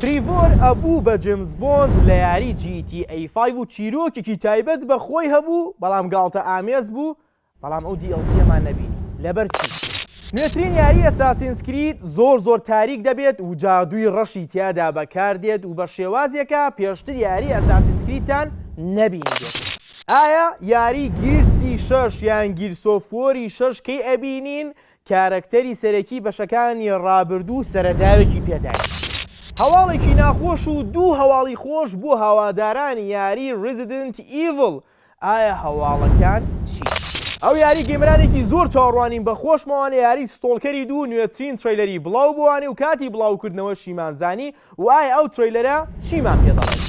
تریڤۆر ئەبوو بە جیمس بۆند لە یاری جی تی ئەی فایڤ و چیرۆکێکی تایبەت بە خۆی هەبوو بەڵام گاڵتە ئامێز بوو بەڵام ئەو دی ئێل سیەمان نەبینی لەبەر چی نوێترین یاری ئەساسینس کرید زۆر زۆر تاریک دەبێت و جادووی ڕەشی تیادا بەکار دێت و بە شێوازێکە پێشتر یاری ئەساسینس کریدتان نەبینیبێت. ئایا یاری گیرسی شەش یان گیرسۆفوەری شەش کەی ئەبینین کارەکتەری سەرەکی بەشەکانی ڕابردوو سەرەداوێکی پێداین. هەواڵێکی ناخۆش و دوو هەواڵی خۆش بۆ هەوادارانی یاری ریزیدنت ئیڤڵ ئایا هەواڵەکان چین؟ ئەو یاری گەیمەرانێکی زۆر چاوەڕوانین بە خۆشمەوە لە یاری ستۆڵکەری دوو نوێترین ترەیلەری بڵاو بووانێ و کاتی بڵاوکردنەوەشیمان زانی وە ئایا ئەو ترەیلەرە چیمان پێ دەڵێت؟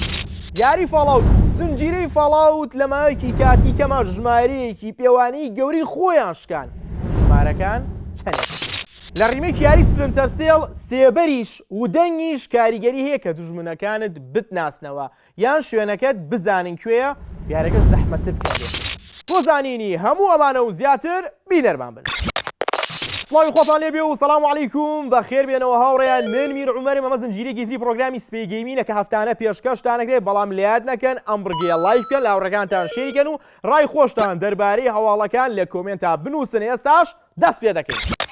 یاری فاڵاوت و زنجیرەی فاڵاوت لە ماوەیەکی کاتی کەما ژمارەیەکی پێوانەیی گەورەی خۆیان شکان، ژمارەکان چەنێک بوون؟ لە ڕیمەیک یاری سپلنتەر سێڵ، سێبەریش ودەنگیش کاریگەری هەیە کە دوژمنەکانت بتناسنەوە، یان شوێنەکەت بزانین کوێیە دیارەکە زەحمەتتر بکەم بۆ. بۆ زانینی هەموو ئەمانە و زیاتر بینەرمان بن. سڵاوی خواتان لێ بێ و سلام علیکم بەخێر بێنەوە هاوڕێیان من میر عومەرم ئەمە زنجیرەیەکی تری پڕۆگرامی سپێی گەیمینە کە هەفتانە پێشکەشتان ئەکرێ بەڵام لەیاد نەکەن ئەم بڕگەیە ڵایک بکەن لە هاوڕێکانتان شێری کەن و ڕای خۆشتان دەربارەی هەواڵەکان لە کۆمێنتا بنووسن ئێستاش دەست پێ دەکەین.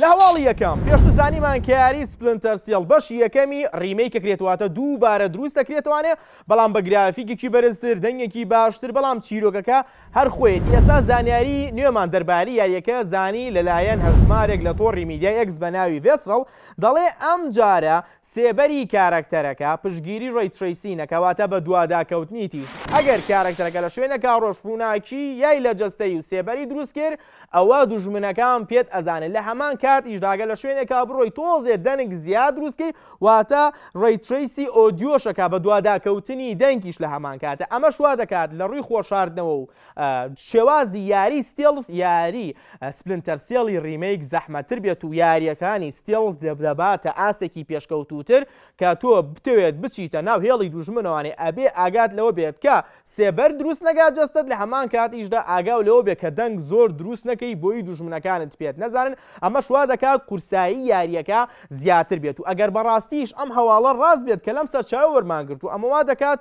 لە هەواڵی یەکەم پێشو زانیمان کە یاری سپلنتەر سێڵ بەشی یەکەمی ڕیمەی کە کرێت واتە دوو بارە دروست دەکرێتوانێ بەڵام بە گرافیکێکی بەرزتر دەنگێکی باشتر بەڵام چیرۆکەکە هەر خۆیەتی ئێستا زانیاری نوێمان دەرباری یاریەکە زانی لەلایەن هەژمارێک لە تۆڕی میدیای ئێکس بە ناوی ڤێسڕەڵ دەڵێ ئەم جارە سێبەری کارەکتەرەکە پشتگیری ڕەی ترەیسینە کەواتە بەدواداکەوتنی تیژ ئەگەر کارەکتەرەکە لە شوێنەکا ڕۆژ ڕووناکی یای لە جەستەی و سێبەری دروست کرد ئەوا دوژمنەکان پێت ئەزانن لە هەمان کاتیشدا گەر لە شوێنێکا بڕۆی تۆزێ دەنگ زیاد دروست کەی واتە ڕەی ترەیسی ئۆدیۆشەکە بەدواداکەوتنی دەنگیش لە هەمان کاتە ئەمەش وادەکات لە ڕووی خۆ شاردنەوە و شێوازی یاری ستێڵث یاری سپلنتەر سێڵی ڕیمەیک زەحمەتتر بێت و یارییەکانی ستێڵث دەباتە ئاستێکی پێشکەوتووتر کە تۆ بتەوێت بچیتە ناو هێڵی دوژمنەوانێ ئەبێ ئاگات لەوە بێت کە سێبەر دروست نەکات جەستەت لە هەمان کاتیشدا ئاگاو لەوە بێت کە دەنگ زۆر دروست نەکەی بۆی دوژمنەکانت پێت نەزانن ئەمەش وا دەکات قورسایی یارییەکە زیاتر بێت و ئەگەر بەڕاستیش ئەم هەواڵە ڕاست بێت کە لەم سەرچاوەوە وەرمانگرتووە ئەمە وا دەکات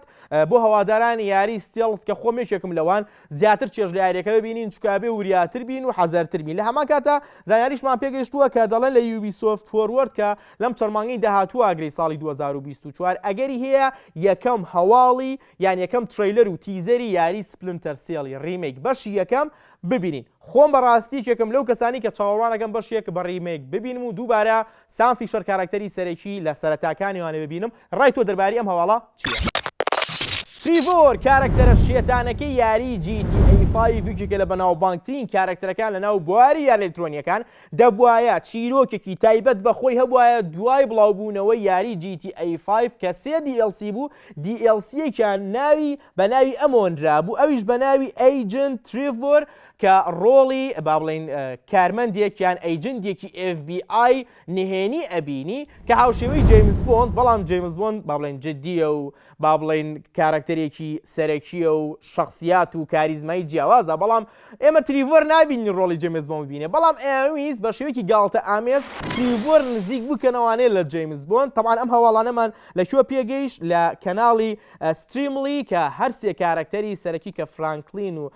بۆ هەوادارانی یاری ستێڵث کە خۆم یەکێکم لەوان، زیاتر چێژ لە یاریەکە ببینین چونکە ئەبێ وریاتر بین و حەزەرتر بین لە هەمان کاتدا زانیاریشمان پێگەیشتووە کە دەڵێن لە یوبیسۆفت فۆروەرد کە لەم چەند مانگەی داهاتوو ئاگرەی ساڵی 2024 ئەگەری هەیە یەکەم هەواڵی یان یەکەم ترەیلەر و تیزەری یاری سپلنتەر سێڵی ڕیمەیک بەشی یەکەم ببینین خۆم بەڕاستی یەکێکم لەو کەسانی کە چاوەڕوانەکەم بەشێک بە ڕیمەیک ببینم و دووبارە سام فیشەر کاراکتەری سەرەکی لە سەرەتاکانی ئەوانەی ببینم ڕای تۆ دەرباری ئەم هەواڵە چیە؟ تریڤۆر کارەکتەرە شێتانەکەی یاری جی تی ئەی فایڤ یەکێکە لە بەناوبانگترین کارەکتەرەکان لەناو بواری یاری ئەلکترۆنییەکان، دەبوایە چیرۆکێکی تایبەت بە خۆی هەبوایە دوای بڵاوبوونەوەی یاری جی تی ئەی فایڤ کە سێ دی ئێڵ سی بوو دی ئێڵ سییەکیان ناوی بە ناوی ئەم هۆنرابوو، ئەویش بە ناوی ئەیجنت تریڤۆر کە ڕۆڵی با بڵێین کارمەندێک یان ئەیجندێکی ئێف بی ئای نهێنی ئەبینی کە هاوشێوەی جەیمس بۆند بەڵام جەیمس بۆند با بڵێین جدیە و با بڵێین کارەکتەرێکی سەرەکیە و شەخسیات و کاریزمای جیاوازە بەڵام ئێمە تریڤۆر نابینین ڕۆڵی جەیمس بۆند ببینێت، بەڵام ئەیانویست بە شێوەیەکی گاڵتەئامێز تریڤۆر نزیک بکەنەوانێ لە جەیمس بۆند، تەبعەن ئەم هەواڵانەمان لە کوێ پێگەیشت لە کەناڵی ستریملی کە هەر سێ کارەکتەری سەرەکی کە فرانکلین و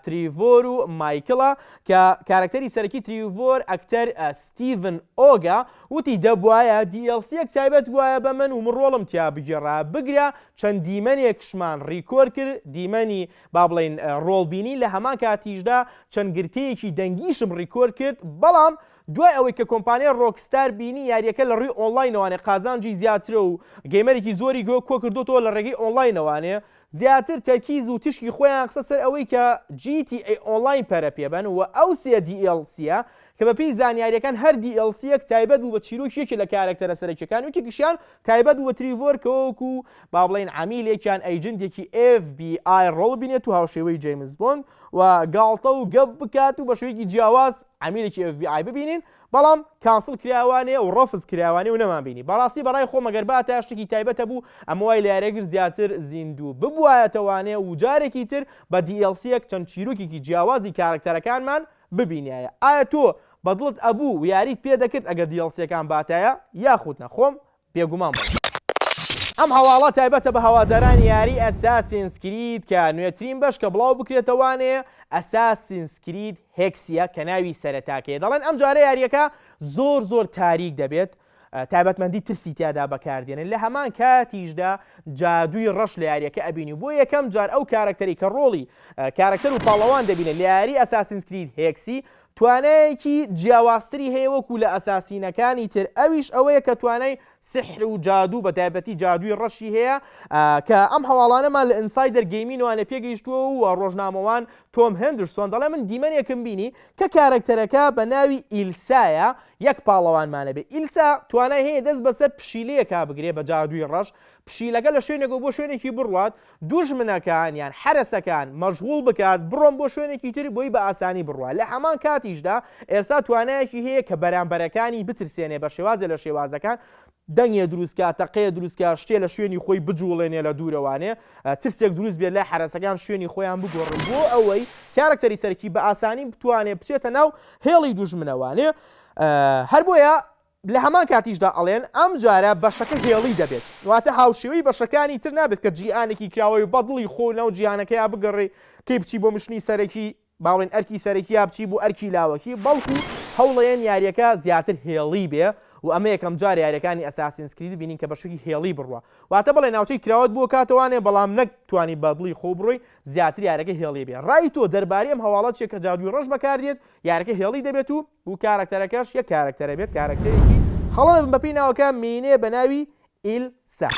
تریڤۆر و مایکڵە کە کارەکتەری سەرەکی تریڤۆر ئەکتەر ستیڤن ئۆگە وتی دەبوایە دیئێڵسییەک تایبەت بوایە بە من و من ڕۆڵم تیا بگێڕایە بگرە چەند دیمەنێکشمان ڕیکۆر کرد دیمەنی با بڵێین ڕۆڵبینی لە هەمان کاتیشدا چەند گرتەیەکی دەنگیشم ڕیکۆرد کرد، بەڵام دوای ئەوەی کە کۆمپانیای ڕۆکستار بینی یاریەکە لە ڕووی ئۆنڵاینەوانێ قازانجی زیاترە و گەیمەرێکی زۆری کۆ کردۆتەوە لە ڕێگەی ئۆنڵاینەوانێ زیاتر تەرکیز و تیشکی خۆیان خستە سەر ئەوەی کە GTA ئۆنڵاین پەرە پێبەن و ئەو سێ DLC-ە کە بەپێی زانیاریەکان هەر DLC-ەک تایبەت بوو بە چیرۆکی یەکێ لە کارەکتەرە سەرەکیەکان و یەکێکیشیان تایبەت بوو بە تریڤۆر کە وەکو با بڵێین عەمیلێک یان ئەیجنتێکی ئێف بی ئای ڕۆڵ بینێت و هاوشێوەی جەیمس بۆند و گاڵتە و گەپ بکات و بە شێوەیەکی جیاواز عەمیلێکی ئێف بی ئای ببینین بەڵام کانسڵ کراوانێ و ڕەفز کراوانێ و نەمانبینی بەڕاستی بەڕای خۆ مەگەر با تا شتێکی تایبەتە بوو ئەمە وای لە یارێگر زیاتر زیندوو ببوایەتەوانێ و جارێکی تر بە DLC یەک چەند چیرۆکێکی جیاوازی کارەکتەرەکانمان ببینیایە ئایا تۆ بەدڵت ئەبوو و یاریت پێ دەکرد ئەگەر دیڵسیەکان باتایە یاخود نا خۆم بێگومان بڵێم. ئەم هەواڵە تایبەتە بە هەوادارانی یاری ئەساسینس کرید کە نوێترین بەش کە بڵاو بکرێتە وانێ ئەساسینس کرید هێکسیە کە ناوی سەرەتاکەیە دەڵێن ئەمجارە یاریەکە زۆر زۆر تاریک دەبێت تایبەتمەندی ترسی تیادا بەکاردێنێت، لە هەمان کاتیشدا جادووی ڕەش لە یاریەکە ئەبینی و بۆ یەکەم جار ئەو کارەکتەرەی کە ڕۆڵی کارەکتەر و پاڵەوان دەبینێت لە یاری ئەساسینس کرید هێکسی توانایەکی جیاوازتری هەیە وەکو لە ئەساسینەکانی تر ئەویش ئەوەیە کە توانای سحر و جادوو بە تایبەتی جادووی ڕەشی هەیە کە ئەم هەواڵانەمان لە ئینسایدەر گەیمینوان لە پێگەیشتووە و ڕۆژنامەوان تۆم هێندرسۆن دەڵێ من دیمەنێکم بینی کە کارەکتەرەکە بە ناوی ئیلسایە یەک پاڵەوانمانە بێ ئیلسا توانای هەیە دەست بەسەر پشیلەیەکا بگرێ بە جادووی ڕەش پشیلەکە لە شوێنێکەوە بۆ شوێنێکی بڕوات دوژمنەکان یان حرەسەکان مەشغوڵ بکات بڕۆن بۆ شوێنێکی تر بۆی بە ئاسانی بڕوات لە هەمان کاتیشدا ئێلسا توانایەکی هەیە کە بەرامبەرەکانی بترسێنێ بە شێوازە لە شێوازەکان دەنگێ دروست کا، تەقەیە دروست کا، شتێ لە شوێنی خۆی بجووڵێنێ لە دوورەوانێ ترسێک دروست بێت لای حەرەسەکان شوێنی خۆیان بگۆڕن بۆ ئەوەی کارەکتەری سەرەکی بە ئاسانی بتوانێ بچێتە ناو هێڵی دوژمنەوانێ هەر بۆیە لە هەمان کاتیشدا ئەڵێن ئەم جارە بەشەکە هێڵی دەبێت واتە هاوشێوەی بەشەکانی تر نابێت کە جیهانێکی کراوەی بەدڵی خۆ ناو جیهانەکەیا بگەڕێی کەی بچی بۆ مشنی سەرەکی با بڵێین ئەرکی سەرەکی یا بچی بۆ ئەرکی لاوەکی، بەڵکو هەوڵەیەن یاریەکە زیاتر هێڵی بێ و ئەمە یەکەم جارە یاریەکانی ئەساسینس کرید بینین کە بەشوکی هێڵی بڕوا واتە بڵێ ناوچەی کراوەت بۆ کاتە وانێ بەڵام نەک توانی بە دڵی خۆ بڕۆی زیاتر یارەکە هێڵی بێ ڕای تۆ دەرباری ئەم هەواڵە چیە کە جادوی ڕەش بەکاردێت یارەکە هێڵی دەبێت و و کارەکتەرەکەش یەک کارەکتەرە بێت کارەکتەرێکی هەڵە بەپێی ناوەکە مینێ بەناوی ئیل سە.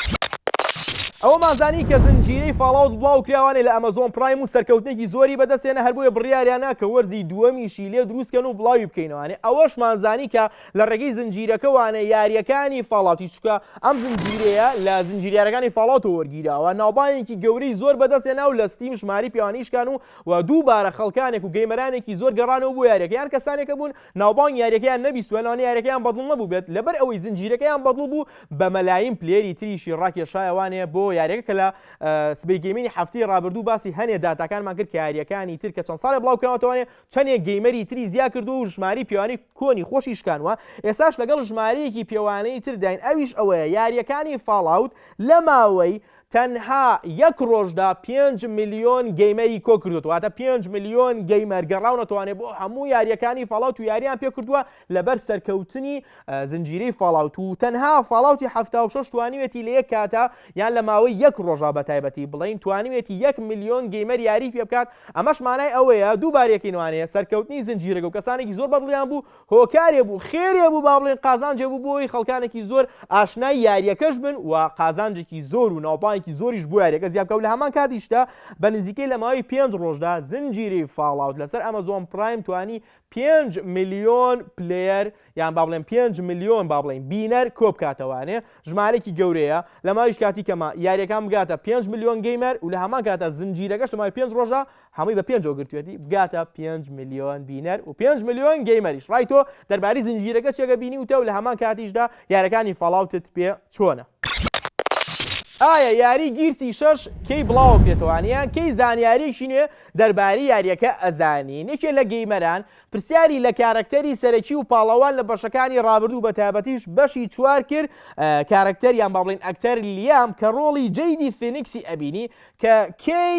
ئەوەمان زانی کە زنجیرەی فاڵاوت بڵاوکراوانەی لە ئەمەزۆن پڕایم و سەرکەوتنێکی زۆری بەدەستهێنا هەر بۆیە بڕیاریان نا کە وەرزی دووەمیشی لێ دروستکەن و بڵاوی بکەینەوانێ ئەوەشمان زانی کە لە ڕێگەی زنجیرەکەوانە یاریەکانی فاڵاوتی چونکە ئەم زنجیرەیە لە زنجیرە یارەکانی فاڵاوتەوە وەرگیراوە ناوبانگێکی گەورەی زۆر بەدەستهێنا و لە ستیم ژمارەی پێوانەیی شکان و و دووبارە خەڵکانێک و گەیمەرانێکی زۆر گەڕانەوە بۆ یاریەکە یان کەسانێکە بوون ناوبانگی یاریەکەیان نەبیستوە لەوانەیە یاریەکەیان بەدڵ نەبوبێت لەبەر ئەوەی زنجیرەکەیان بەدڵ بوو بە مەلایین پلەیەری تریشی ڕاکێشایەوانێ بۆ یاریەکە کە لە سبەی گەیمینی هەفتەی ڕابردوو باسی هەنێ داتاکانمان کرد کە یاریەکانی تر کە چەند ساڵێ بڵاو کراوەتەوانێ چەنێ گەیمەری تری زیا کردووە و ژماری پیاوانی کۆنی خۆشی شکانوە ئێساش لەگەڵ ژمارەیەکی پێوانەی تر داین ئەویش ئەوەیە یاریەکانی فاڵاوت لە ماوەی تەنها یەک ڕۆژدا پێنج ملیۆن گەیمەری کۆکردووەتەوە واتە پێنج ملیۆن گەیمەر گەڕاونەتەوانێ بۆ هەموو یاریەکانی فاڵاوت و یاریان پێکردووە لەبەر سەرکەوتنی زنجیرەی فاڵاوت و تەنها فاڵاوتی هەفتا و شەش توانیوێتی لە یەک کاتە یان لە ماوەی یەک ڕۆژا بە تایبەتی بڵین توانیوێتی یەک ملیۆن گەیمەر یاری پێ بکات ئەمەش مانای ئەوەیە دووبارەکەینوانەیە سەرکەوتنی زنجیرەگە و کەسانێکی زۆر بەدڵیان بوو هۆکارێ بوو خێرێ بوو با بڵێین قازانجێ بوو بۆی خەڵکانێکی زۆر ئاشنای یاریەکەش بن و قازانجێکی زۆر و ناوبانگێکی زۆریش بۆ یاریەکە زیاد بکە و لە هەمان کاتیشدا بە نزیکەی لە ماوەی پێنج ڕۆژدا زنجیرەی فاڵاوت لەسەر ئەمەزۆن پرایم توانی پێنج ملیۆن پلەیەر یان با بڵێن پێنج ملیۆن با بڵێین بینەر کۆ بکاتەوانێ ژمارێکی گەورەیە لە ماویش کاتی کەمە یاریەکان بگاتە پێنج ملیۆن گەیمەر و لە هەمان کاتە زنجیرەکەش لە ماوەی پێنج ڕۆژە هەمووی بە پێنجەوە گرتوویەتی بگاتە پێنج ملیۆن بینەر و پێنج ملیۆن گەیمەریش ڕای تۆ دەربارەی زنجیرەکە چیەگە بینیوتە و لە هەمان کاتیشدا یارەکانی فاڵاوتت پێ چۆنە؟ ئایا یاری گیرسی شەش کەی بڵاوەکرێتەوان یان کەی زانیاریەکی نوێ دەربارەی یاریەکە ئەزانین یەکێ لە گەیمەران پرسیاری لە کارەکتەری سەرەکی و پاڵەوان لە بەشەکانی ڕابردوو بە تایبەتیش بەشی چوار کرد کارەکتەر یان با بڵێین ئەکتەر لیام کە ڕۆڵی جەیدی فینکسی ئەبینی کە کێی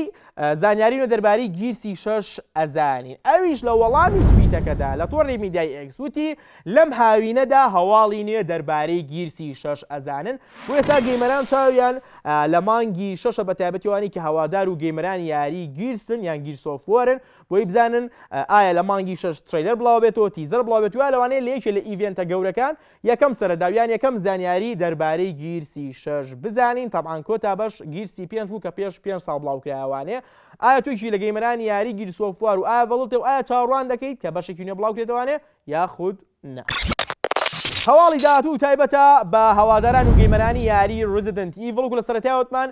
زانیاری نوێ دەربارەی گیرسی شەش ئەزانین؟ ئەویش لە وەڵامی تویتەکەدا لە تۆڕی میدیای ئێکس وتی لەم هاوینەدا هەواڵی نوێ دەربارەی گیرسی شەش ئەزانن بۆ ئێستا گەیمەران چاویان لە مانگی شەشە بە تایبەتیوانی کە هەوادار و گەیمەرانی یاری گیرسن یان گیرسۆفۆرن بۆی بزانن ئایا لە مانگی شەش تریلەر بڵاوبێتەوە تیزەر بڵاوێت ویا لەوانەیە لە یەکێ لە ئیڤێنتە گەورەکان یەکەم سەرەداو یان یەکەم زانیاری دەربارەی گیرسی شەش بزانین تەبعان کۆتا بەش گیرسی پێنج بوو کە پێش پێنج ساڵ بڵاو کرایە وانێ ئایا تویکی لە گەیمەرانی یاری گیرس ئۆف وار و ئایا ڤەڵتێ و ئایا چاوەڕوان دەکەیت کە بەشێکی نوێ بڵاو کرێتە وانێ یاخود نا. هەواڵی داهاتوو تایبەتە بە هەواداران و گەیمەرانی یاری ڕیزیدنت ئیڤڵ گوو لە سەرەتای وتمان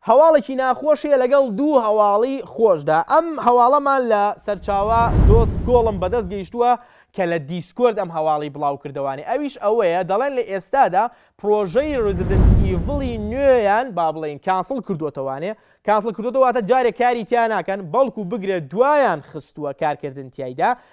هەواڵێکی ناخۆش هەیە لەگەڵ دوو هەواڵی خۆشدا ئەم هەواڵەمان لە سەرچاوە دۆست گۆڵم بەدەست گەیشتووە کە لە دیسکۆرد ئەم هەواڵی بڵاو کردەوانێ ئەویش ئەوەیە دەڵێن لە ئێستادا پرۆژەی ڕزیدنت ئیڤڵی نوێیان با بڵێین کانسڵ کردووەتەوانێ کانسڵ کردووەتەوە واتە جارێ کاری تیا ناکەن بەڵکو بگرە دوایان خستووە کارکردن تیایدا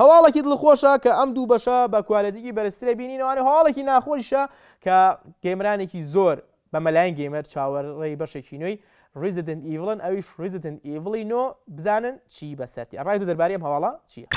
هەواڵەکی دڵخۆشە کە ئەم دوو بەشە بە کوالێتیکی بەرزترە بینینەوانە هەواڵێکی ناخۆشیشە کە گەیمرانێکی زۆر بە مەلاین گەیمەر چاوەڕێی بەشێکی نوێی ڕیزدن ئیڤڵن ئەویش ڕیزدن ئیڤڵی نۆ بزانن چی بەسەرتیە ڕای تۆ دەربارەی ئەم هەواڵە چیە؟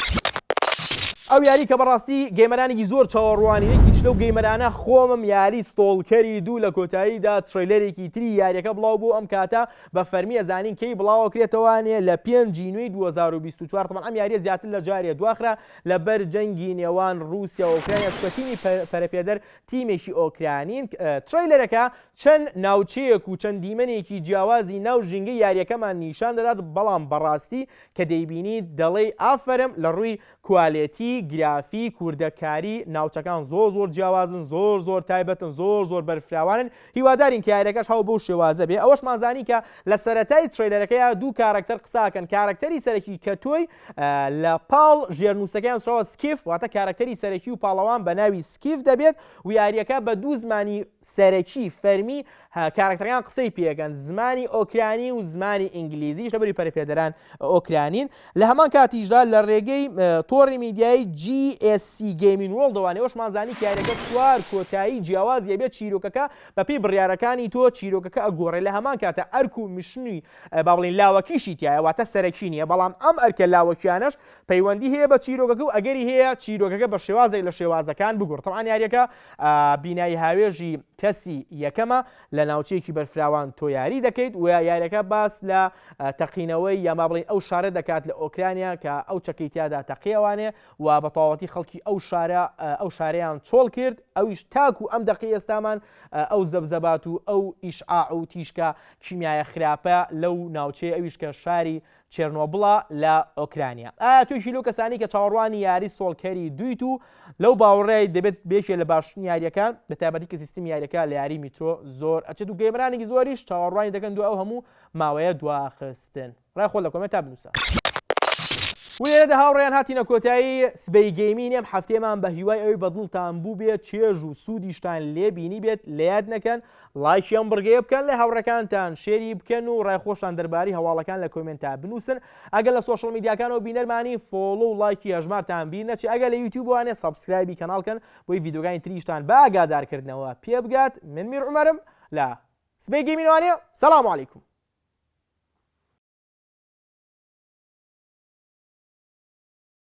ئەو یاری کە بەڕاستی گەیمەرانێکی زۆر چاوەڕوانی یەکیش لەو گەیمەرانە خۆمم یاری ستۆڵکەری دوو لە کۆتاییدا تڕەیلەرێکی تری یاریەکە بڵاو بوو ئەم کاتە بە فەرمی ئەزانین کەی بڵاوەکرێتەوە نێ لە پێنج ی نوێی دوو هەزار و بیست و چوار تەبعەن ئەم یاریە زیاتر لە جارێ دواخرا لە بەر جەنگی نێوان ڕوسیا و ئۆکرانیا چکە تیمی پەرەپێدەر تیمێکی ئۆکرانین ترەیلەرەکە چەند ناوچەیەک و چەند دیمەنێکی جیاوازی ناو ژینگە یاریەکەمان نیشان دەدات بەڵام بەڕاستی کە دەیبینی دەڵێی ئافەرم لە ڕووی کوالێتی، گرافیک، وردەکاری، ناوچەکان زۆر زۆر جیاوازن، زۆر زۆر تایبەتن، زۆر زۆر بەرفراوانن، هیوادارین کە یاریەکەش هەو بەو شێوازە بێ، ئەوەشمان زانی کە لە سەرەتای ترەیلەرەکەیا دوو کارەکتەر قسە ئەکەن، کارەکتەری سەرەکی کە تۆی لە پاڵ ژێرنووسەکەیا نووسراوە Skiff واتە کارەکتەری سەرەکی و پاڵەوان بە ناوی Skiff دەبێت و یاریەکە بە دوو زمانی سەرەکی، فەرمی، ە، کارەکتەرەکان قسەی پێکەن، زمانی ئۆکرانی و زمانی ئینگلیزیش لەبری پەرەپێدەران ئۆکرانین، لە هەمان کاتیشدا لە رێگەی تۆڕی میدیایی GSC Gaming World ەوە نێۆشمان زانی کە یاریەکە چوار کۆتایی جیاوازی ئەبێت چیرۆکەکە بەپێی بڕیارەکانی تۆ چیرۆکەکە ئەگۆڕێت لە هەمان کاتە ئەرک و میشنی با بڵێین لاوەکیشی تیایە واتە سەرەکی نیە بەڵام ئەم ئەرکە لاوەکیانەش پەیوەندی هەیە بە چیرۆکەکە و ئەگەری هەیە چیرۆکەکە بە شێوازێک لە شێوازەکان بگۆڕێت تەبعان یاریەکە بینای هاوێژی کەسی یەکەمە لە ناوچەیەکی بەرفراوان تۆ یاری دەکەیت و یاریەکە باس لە تەقینەوەی یا ما بڵین ئەو شارە دەکات لە ئۆکرانیا کە ئەو چەکەی تیادا تەقیەوانێ و بە تەواتی خەڵکی ئەو شارە ئەو شارەیان چۆڵ کرد ئەویش تاکو ئەم دەقی ئێستامان ئەو زەبزەبات و ئەو ئیشعاع و تیشکە کیمیایە خراپە لەو ناوچەیە ئەویش کە شاری چێرنۆبڵە لە ئۆکرانیا. ئایا تۆ یەکیت لەو کەسانەی کە چاوەڕوانی یاری سۆڵکەری دوویت و لەو باوەڕەی دەبێت یەکێک لە باشترین یارییەکان، بە تایبەتی کە سیستمی یارییەکە لە یاری میترۆ زۆر ئەچێت و گەیمەرانێکی زۆریش چاوەڕوانی دەکەن دوای ئەو هەموو ماوەیە دواخستن؟ ڕای خۆت لە کۆمێنتا بنووسە. و لێرەدا هاوڕێیان هاتینە کۆتایی سبەی گەیمینی ئەم هەفتەیەمان بە هیوای ئەوەی بە دڵتان بووبێت چێژ و سوودیشتان لێ بینیبێت لە یاد نەکەن ڵایکی ئەم بڕگەیە بکەن لە هاوڕێکانتان شێری بکەن و ڕای خۆشتان دەرباری هەواڵەکان لە کۆمێنتا بنووسن ئەگەر لە سۆشڵ میدیاکانەوە بینەرمانی فۆڵۆ و ڵایکی هەژمارتان بیر نەچێ ئەگەر لە یوتیوبوانێ سەبسکرایبی کەناڵ کەن بۆی ڤیدیۆگانی تریشتان بە ئاگادارکردنەوە پێبگات من میر عومەرم لە سبەی گەیمینوانێ سەلام علیکم